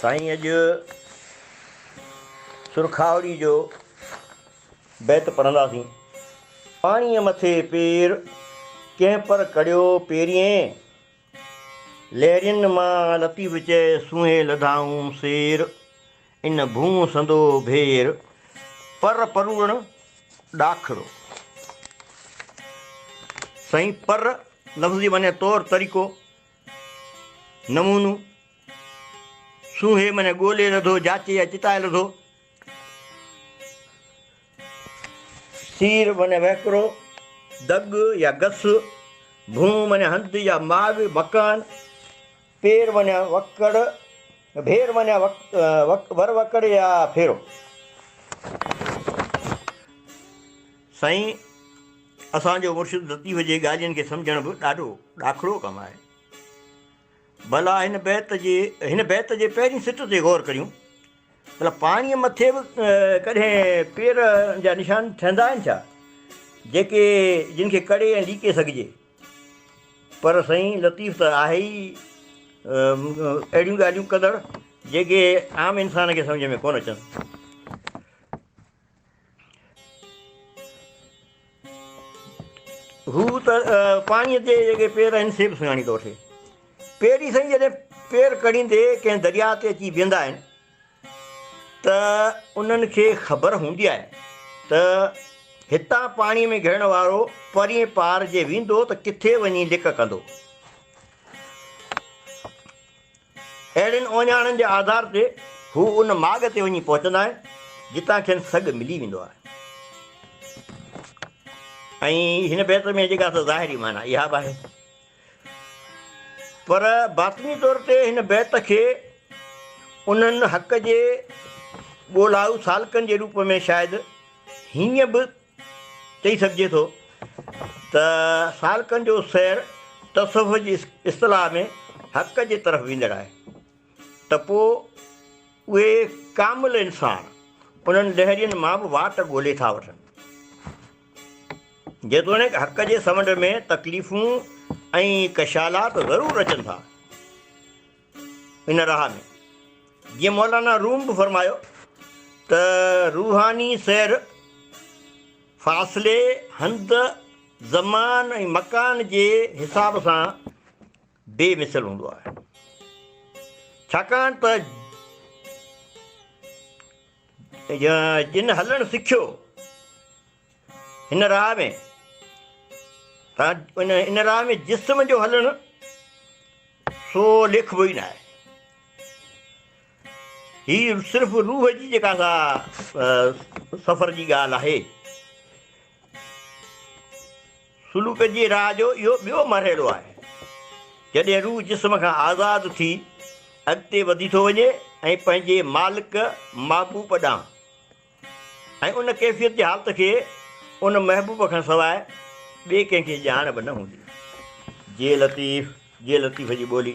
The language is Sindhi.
سائين اڄ سرخاوڙي جو بيت پڙهنداسين. پاڻيء مٿي پير ڪنهن پر ڪڙيو پيرين. لهرين مان لطيف چئي سونهين لڌائون سير. ان ڀونء سندو ڀير، پر پروڙڻ ڏاکڙو. سائين پر لفظ جي معني طور طريقو، نمونو، سونهي معني ڳولي لڌو، جاچي يا چتائي لڌو، سير معني وهڪرو، دڳ يا گس، ڀونء معني هنڌ يا ماڳ، مڪان، پير وڃا وڪڙ ڀير وڃا وڪ ور وڪڙ يا ڦيرو. سائين اسان جو مرشد لطيف جي ڳالهين کي سمجهڻ به ڏاڍو ڏاکڙو ڪم آهي. ڀلا هن بيت جي هن بيت جي پهرين سٽ تي غور ڪريون. ڀلا پاڻيء مٿي به ڪڏهن پير جا نشان ٺهندا آهن ڇا؟ جيڪي جن کي ڪڙي ۽ ليڪي سگهجي. پر سائين لطيف ته آهي ئي اهڙيون ڳالهيون ڪندڙ جيڪي عام انسان کي سمجهه ۾ ڪونه اچن. هو ته پاڻيء تي جيڪي پير آهن سي به سڃاڻي ٿو وٺي. پيري سائين جڏهن پير ڪڙهيندي ڪنهن درياء تي اچي بيهندا آهن. ته انهن کي خبر هوندي آهي ته هتان پاڻي ۾ گهڙڻ وارو پرين پار جي ويندو ته ڪٿي وڃي لڪ ڪندو. اهڙين اوڃاڻن جي آڌار تي هو ان ماڳ تي وڃي پهچندا آهن جتان کين سگهه ملي ويندو آهي. ۽ هن بيت ۾ جيڪا سا ظاهري معنيٰ اها به آهي. پر باطني طور تي هن بيت کي انهن حق جي ڳولهائو سالڪن جي روپ ۾ شايد هيئن به چئي سگهجي ٿو ته سالڪن جو سير تصوف جي اصطلاح ۾ حق جي طرف ويندڙ آهي ته پوء اهي ڪامل انسان انهن لهرين مان به واٽ ڳولهي ٿا وٺن. جيتوڻيڪ حق جي سمنڊ ۾ تڪليفون ۽ ڪشالات ضرور اچن ٿا ان راهه ۾، جيئن مولانا روم به فرمايو ته روحاني سير فاصلي، هنڌ، زمان ۽ مڪان جي حساب سان بي مثل هوندو آهي ڇاڪاڻ ته جن هلڻ سکيو هن راهه ۾ ان راهه ۾ جسم جو هلڻ سو لکبو ئي ناهي هي صرف روح جي جيڪا سا سفر جي ڳالهه آهي سلوڪ جي راهه جو اهو ٻيو مرحلو آهي، جڏهن روح جسم کان آزاد ٿي اڳتي وڌي ٿو وڃي ۽ پنهنجي مالڪ محبوب ڏانهن ۽ ان ڪيفيت جي حالت کي ان محبوب کان سواء ٻئي ڪنهن کي ڄاڻ به نه هوندي. جي لطيف جي لطيف جي ٻولي.